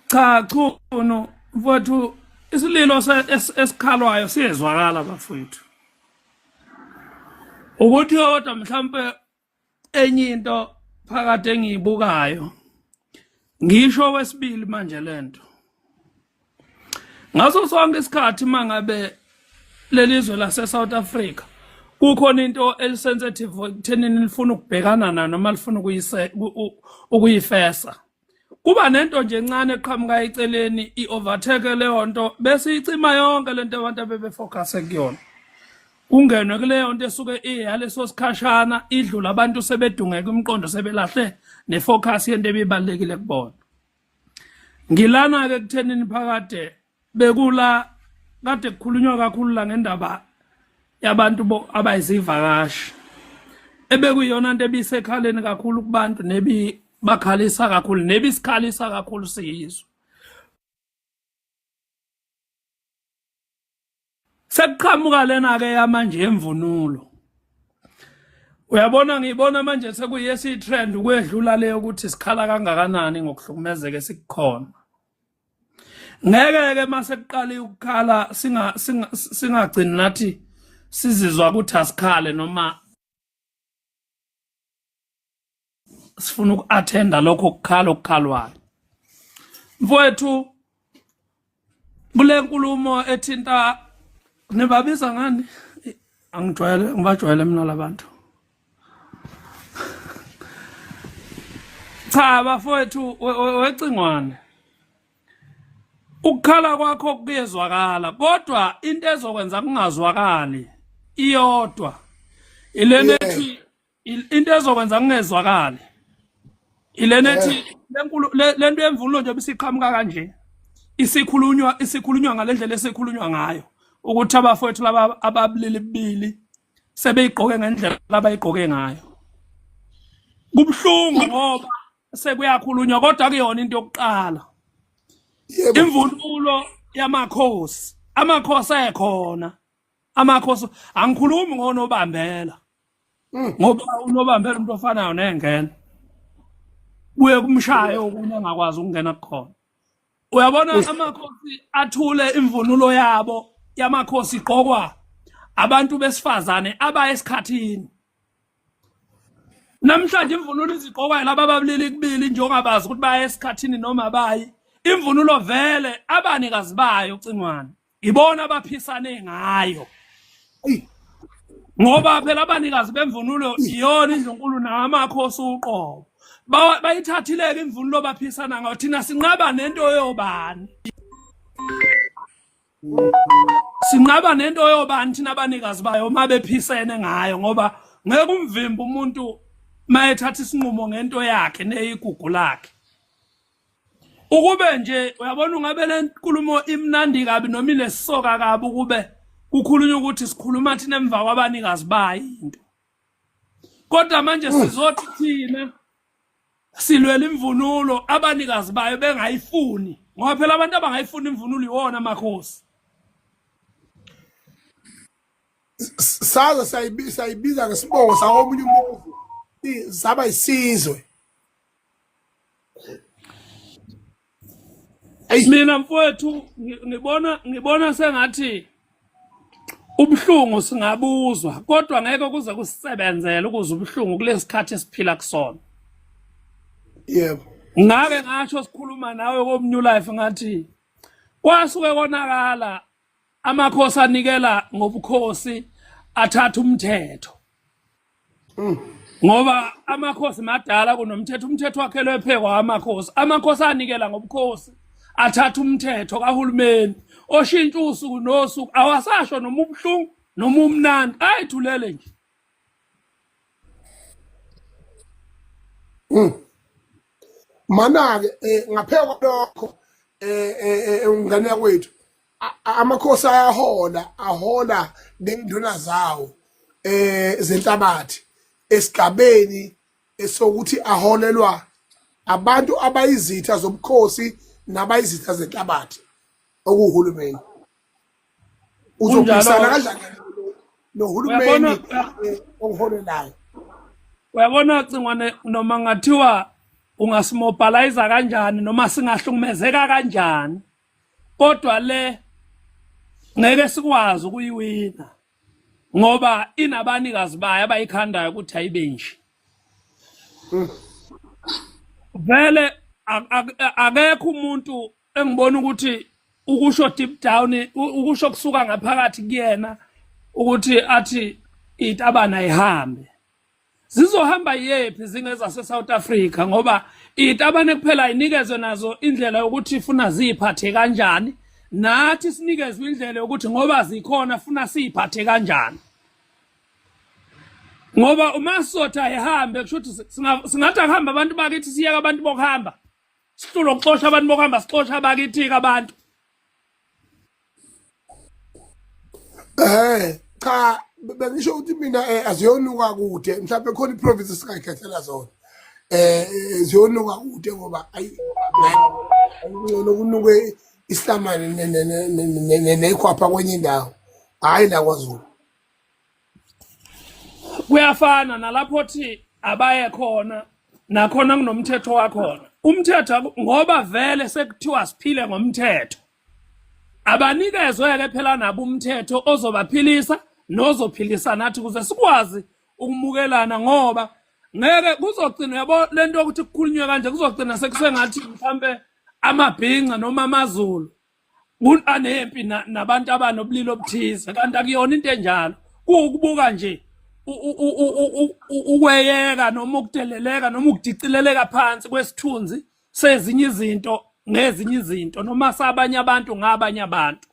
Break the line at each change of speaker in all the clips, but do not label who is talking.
cha chunu mfowethu isililo esikhalwayo siyezwakala bafowethu ukuthi kodwa mhlampe enye into phakathi engiyibukayo ngisho wesibili manje lento ngaso sonke isikhathi mangabe lelizwe lase South Africa kukhona into elisensitive ekuthenini lifuna ukubhekana nayo noma lifuna ukuyifesa kuba nento nje encane eqhamuka eceleni i-overtake leyo nto bese icima yonke le nto abantu abebefocuse kuyona kungenwe kuleyo nto esuke iyaleso sikhashana idlula abantu sebedungeka umqondo sebelahle nefocus yento ebibalekile kubona ngilana ke kuthenini phakade bekula kade kukhulunywa kakhulu la ngendaba yabantu abayizivakashi ebekuyona into ebisekhaleni kakhulu kubantu nebi bakhalisa kakhulu nebi sikhalisa kakhulu siyizwe sekuqhamuka lena ke yamanje yemvunulo uyabona ngiyibona manje sekuyesi trend ukwedlula le ukuthi sikhala kangakanani ngokuhlukumezeke sikukhona ngeke ke mase kuqala ukukhala singa singagcini nathi sizizwa ukuthi asikhale noma sifuna uku-athenda lokho kukhala okukhalwayo mfowethu kule nkulumo ethinta nibabiza ngani angijwayele ngibajwayele mina labantu cha bafowethu wecingwane ukukhala kwakho kuyezwakala kodwa into ezokwenza kungazwakali iyodwa ilena ethi into ezokwenza kungezwakali ilena ethi eh. lenkulu lento yemvunulo nje bisiqhamuka kanje isikhulunywa isikhulunywa ngalendlela esikhulunywa ngayo ukuthi abafowethu laba ababulili bibili sebeyigqoke ngendlela abayigqoke ngayo kubuhlungu ngoba sekuyakhulunywa kodwa kuyona into yokuqala imvunulo yamakhosi amakhosi ekhona amakhosi angikhulumi ngonobambela mm. ngoba unobambela umuntu ofanayo nengena buye kumshaye okunye angakwazi ukungena kukhona uyabona amakhosi athule imvunulo yabo yamakhosi igqokwa abantu besifazane abaye esikhathini namhlanje imvunulo izigqokwayo laba babulili kubili njengobabazi ukuthi baye esikhathini noma bayi imvunulo vele abanikazi bayo cingwane ibona abaphisane ngayo ngoba phela abanikazi bemvunulo iyona indlunkulu namakhosi uqobo Ba- bayithathileke imvunulo baphisana ngayo thina sinqaba nento yobani sinqaba nento yobani thina abanikazi bayo uma bephisene ngayo ngoba ngeke umvimba umuntu mayethatha isinqumo ngento yakhe neyigugu lakhe ukube nje uyabona ungabe le nkulumo imnandi kabi noma ilesoka kabi ukube kukhulunywa ukuthi sikhuluma thina emva kwabanikazi bayo into kodwa manje sizothi thina silwela imvunulo abanikazi bayo bengayifuni ngoba phela abantu abangayifuni imvunulo iwona amakhosi
saze sayibiza ngesibowo sawomunye umuzi saba isizwe
mina mfowethu ngibona ngibona sengathi ubuhlungu singabuzwa kodwa ngeke kuze kusebenzele ukuze ubuhlungu kulesikhathi esiphila kusona
yebo ngake
ngasho sikhuluma nawe komnew life ngathi kwasuke konakala amakhosi anikela ngobukhosi athatha umthetho mm. ngoba amakhosi madala kunomthetho umthetho wakhelwe phekwa amakhosi amakhosi anikela ngobukhosi athatha umthetho kahulumeni oshintsha usuku nosuku awasasho noma ubuhlungu noma umnandi ayithulele nje
Mm. Mana-ke eh, ngaphela kwalokho eh, eh, eh, eh umngane yakwethu a- a- amakhosi ayahola ahola nenduna zawo eh zenhlabathi esigabeni esokuthi aholelwa abantu abayizitha zobukhosi nabayizitha zenhlabathi okuwuhulumeni uzophikisana kanjani
nohulumeni eh, oholelayo uyabona
cingwane noma
ngathiwa ungasimobilize kanjani noma singahlukumezeka kanjani kodwa le ngeke sikwazi ukuyiwina ngoba inabanikazi bayo abayikhandayo ukuthi ayibe nje hmm. vele akekho umuntu engibona ukuthi ukusho deep down ukusho kusuka ngaphakathi kuyena ukuthi athi itabana ihambe zizohamba yephi zingeza seSouth Africa ngoba itabane kuphela inikezwe nazo indlela yokuthi funa ziphathe kanjani nathi sinikezwe indlela yokuthi ngoba zikhona funa siphathe kanjani ngoba uma sotha ehambe kusho ukuthi singathi akuhamba abantu bakithi siyeka abantu bokuhamba sihlulwa ukuxosha abantu bokuhamba sixosha abakithika abantu
eh cha bengisho ukuthi mina eh, aziyonuka kude mhlawumbe khona iprovince singayikhethela zona eh, eh ziyonuka kude ngoba ayi ngcono kunuke isihlamane nekhwapha kwenye indawo hhayi la kwazulu
kuyafana nalapho thi abaye khona nakhona kunomthetho wakhona umthetho aku- ngoba vele sekuthiwa siphile ngomthetho abanikezwe-ke phela nabo umthetho ozobaphilisa nozophilisa nathi ukuze sikwazi ukumukelana ngoba ngeke kuzogcina yabo le nto yokuthi kukhulunywe kanje kuzogcina sekusengathi mhlampe amabhinca noma amazulu anempi nabantu abanobulili obuthize kanti akuyona into enjalo kuwukubuka nje ukweyeka noma ukudeleleka noma ukudicileleka phansi kwesithunzi sezinye izinto ngezinye izinto noma sabanye abantu ngabanye abantu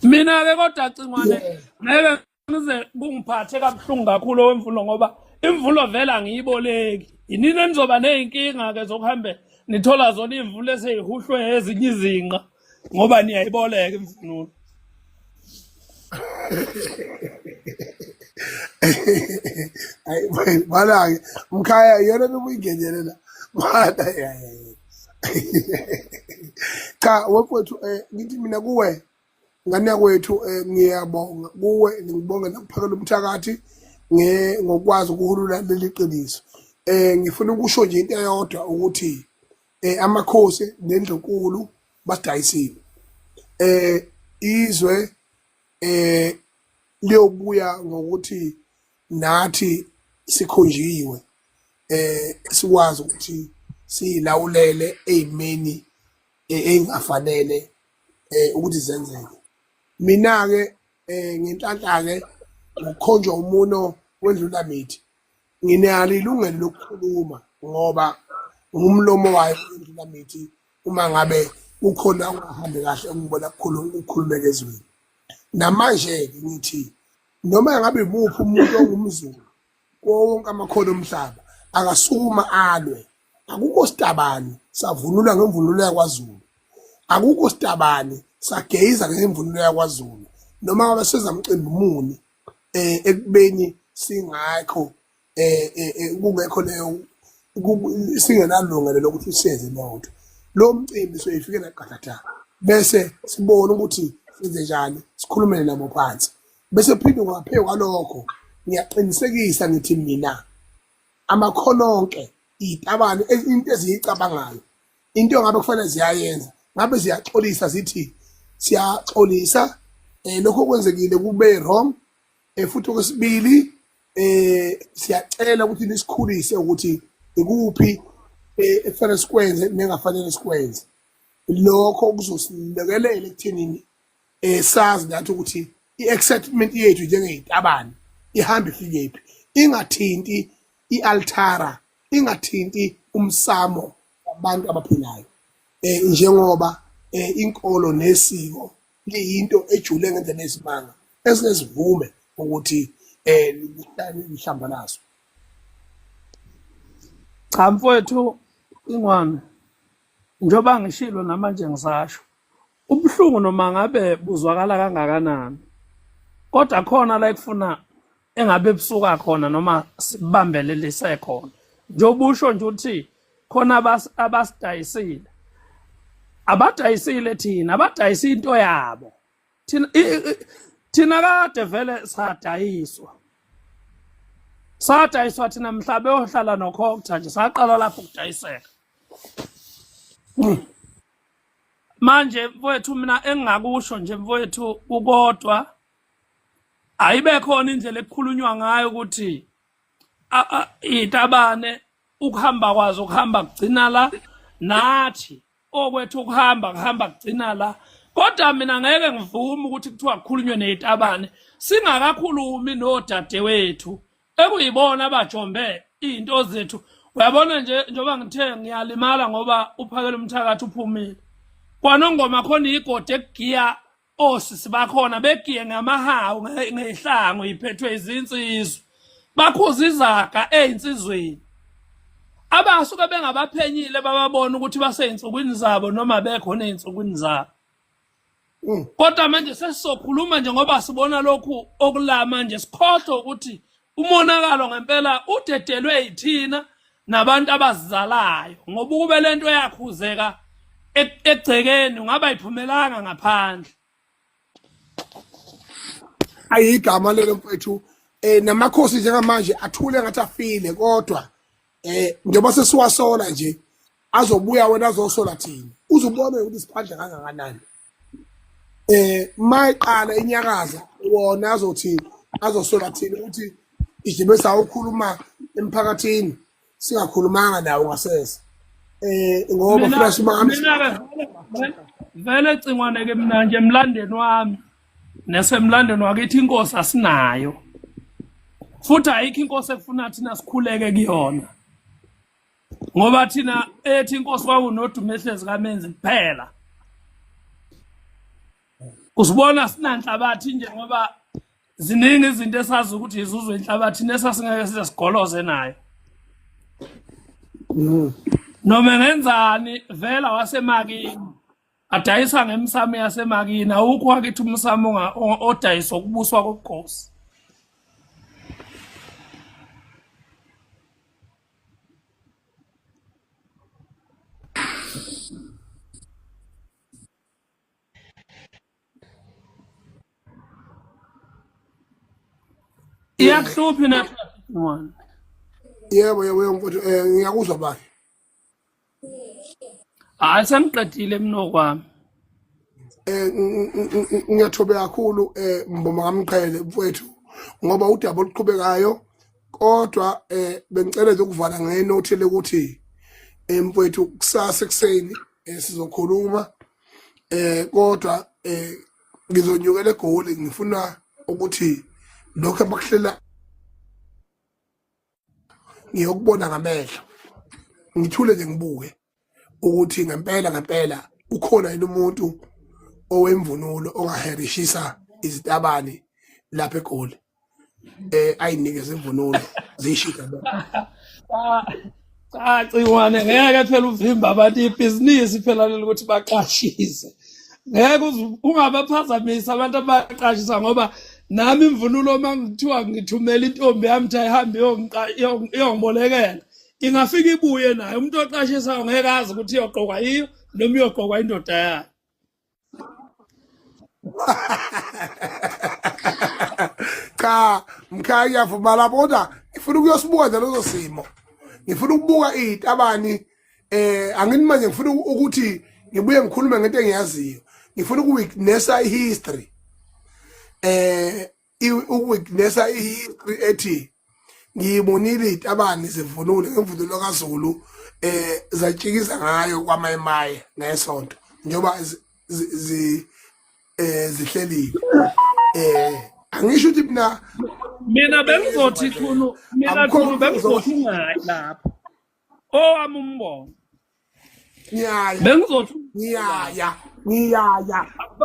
mina-ke kodwa cingwane ngeke Ngize kungiphathe kabuhlungu kakhulu owemvulo ngoba imvulo vele angiyiboleki. Yinini enizoba nezinkinga ke zokuhambe nithola zona imvulo eseyihuhlwe ezinye izinqa ngoba niyayiboleka imvunulo.
Ayi bana ke mkhaya yena ubuyingenele la. Bana ya ya. Cha wethu eh, ngithi mina kuwe ngane kwethu eh, ngiyabonga kuwe ngibonge nokuphakela umthakathi ngokwazi ukuhulula leli qiniso eh ngifuna ukusho nje into eyodwa ukuthi eh amakhosi nendlunkulu basidayisile eh izwe eh liyobuya ngokuthi nathi sikhonjiwe eh sikwazi ukuthi silawulele ezimeni engafanele eh ukuthi zenzeke mina ke eh ngenhlanhla ke ngokukhonjwa umuno wendlula mithi nginalo ilungelo lokukhuluma ngoba ngumlomo wayo indlula mithi uma ngabe kukhona ungahambi kahle ungibona kukhuluma ukhulumeke ezweni namanje ke ngithi noma ngabe imuphi umuntu ongumzulu kuwo wonke amakhono omhlaba akasukuma alwe akukho sitabani savunula ngemvunulo yakwaZulu akukho sitabani sageyiza ngemvunulo yakwaZulu noma ngabe seza mcimbi muni eh ekubeni singakho eh, eh, eh kungekho leyo singenalungelo lokuthi siyenze leyo nto lo mcimbi soyifikela qathatha bese sibone ukuthi senze njani sikhulumele nabo phansi bese phinde ngaphezu kwalokho ngiyaqinisekisa ngithi mina amakholonke izitabane into eziyicabangayo into ngabe kufanele ziyayenza ngabe ziyaxolisa zithi siyaxolisa eh lokho kwenzekile kube wrong eh futhi okwesibili eh siyacela ukuthi nisikhulise ukuthi ikuphi eh, ekufanele sikwenze nengafanele sikwenze lokho kuzosilekelela ekutheni eh sazi nathi ukuthi i-excitement yethu njengey'tabane ihamba ifikephi ingathinti i-altara ingathinti umsamo wabantu abaphilayo eh njengoba eh inkolo nesiko liyinto ejule ngendlela esimanga esinezivume ukuthi eh lihlamba naso
cha mfowethu ingwane njengoba ngishilo namanje ngisasho Ubuhlungu noma ngabe buzwakala kangakanani kodwa khona la ekufuna engabe busuka khona noma sibambelelise khona njengoba usho nje ukuthi khona abasidayisile abadayisile thina abadayisa into yabo thina thina kade vele sadayiswa sadayiswa thina mhla beyohlala nokhokutha nje saqala lapho ukudayiseka manje mfowethu mina engingakusho nje mfowethu kukodwa ayibe khona indlela ekukhulunywa ngayo ukuthi itabane ukuhamba kwazo ukuhamba kugcina la nathi okwethu ukuhamba kuhamba kugcina la kodwa mina ngeke ngivume ukuthi kuthiwa kukhulunywe neyitabane singakakhulumi nodadewethu ekuyibona abajombe izinto zethu uyabona nje njengoba ngithe ngiyalimala ngoba uphakela umthakathi uphumile kwanongoma khona igodi ekugiya osisi bakhona begiye ngamahawu ngehlango iphethwe izinsizwa bakhuza izaga ezinsizweni abasuke bengabaphenyile bababona ukuthi baseyinsukwini zabo noma bekhona ezinsukwini zabo mm. kodwa manje sesizokhuluma nje ngoba sibona lokhu okula manje sikhohlwe ukuthi umonakalo ngempela udedelwe yithina nabantu abazizalayo ngoba ukube lento yakhuzeka e-, egcekeni ungaba iphumelanga ngaphandle
ayigama lelo mfethu eh namakhosi njengamanje athule ngathi afile kodwa eh njengoba sesiwasola nje azobuya wena azosola thina uzubona ukuthi siphandla kangakanani eh mayiqala inyakaza wona azothi azosola thina ukuthi ijibe sawukhuluma emphakathini singakhulumanga nawo ngasese eh ngoba flash mami vele
cingwane ke mina nje emlandeni wami nesemlandweni wakithi inkosi asinayo futhi ayikho inkosi efuna thina sikhuleke kuyona ngoba thina ethi inkosi kwakunodumo ehlezi kamenzi kuphela usibona sinanhlabathi nje ngoba ziningi izinto esazi ukuthi izuzwe inhlabathi nesasingeke size sigoloze nayo mm. noma ngenzani vela wasemakini adayisa ngemisamo yasemakini awukho wakithi umsamo odayiswa ukubuswa kobukhosi iyakuhluphi na yebo
yebo yebo mfowethu um ngiyakuzwa bani
hayi sengiqedile mina okwami eh
ngiyathobe kakhulu eh mboma kamqhele mfowethu ngoba udaba oluqhubekayo kodwa eh bengicela nje ukuvala ngenothi lokuthi eh, mfowethu kusasa ekuseni eh, sizokhuluma eh kodwa eh ngizonyukela egoli ngifuna ukuthi lokho abakuhlela ngiyokubona ngamehlo ngithule nje ngibuke ukuthi ngempela ngempela ukhona yini umuntu owemvunulo ongaherishisa izitabani lapha egoli eh ayinikeze imvunulo zishika
cha ciwane ngeke phela uvimba abantu ibhizinisi phela leli ukuthi baqashise ngeke uzu- ungabaphazamisi abantu abaqashisa ngoba nami imvunulo uma ngithiwa ngithumela intombi yami ukuthi ayihambe iyongiqa- iyon- iyongibolekela ingafika ibuye nayo umuntu oqashisayo ngeke azi ukuthi iyoqokwa yiyo noma iyoqokwa indoda yayo
cha mkhaya ngiyavuma lapho kodwa ngifuna ukuyosibuka nje lezo simo ngifuna ukubuka iy'tabani eh angini manje ngifuna ukuthi ngibuye ngikhulume ngento engiyaziyo ngifuna ukuwitnessa ihistory eh ukuwitnessa ihistory ethi ngiyibonile itabani zivunule ngemvunulo kaZulu eh zatshikiza ngayo kwamayemaye ngesonto njengoba zi eh zihlelile eh angisho ukuthi mina mina
bengizothi khulu mina khulu bengizothi ngayi lapho owami umbono ngiyaya bengizothi ngiyaya ngiyaya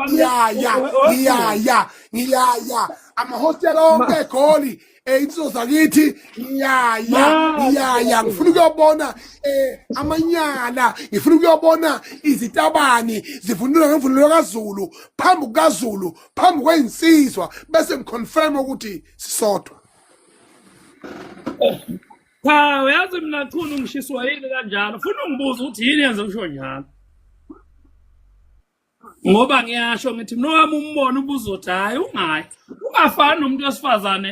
ngiyaya ngiyaya ngiyaya amahostela onke egoli eh insizwa zakithi ngiyaya ngiyaya ngifuna ukuyobona eh amanyala ngifuna ukuyobona izitabani zivunula ngemvunulo kaZulu phambi kukaZulu phambi kwezinsizwa bese ngiconfirm ukuthi sisodwa
Cha uyazi mina khona ungishiswa yini kanjalo funa ungibuza ukuthi yini yenze usho njalo ngoba ngiyasho ngithi mina wami umbono ubuzothi hhayi ungayi ungafani nomuntu wesifazane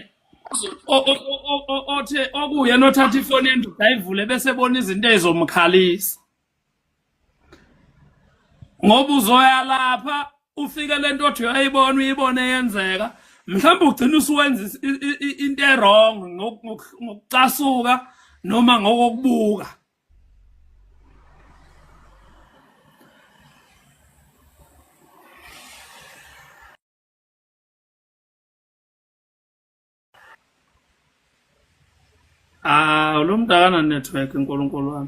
othe okuyena othatha ifoni endida ayivule bese ebona izinto ey'zomkhalisa ngoba uzoya lapha ufike lento othi uyayibona uyibone yenzeka mhlawumbe ugcina usuwenza into erong ngokucasuka noma ngokokubuka Ah, lo mntu akananetwork nkulunkulu wam.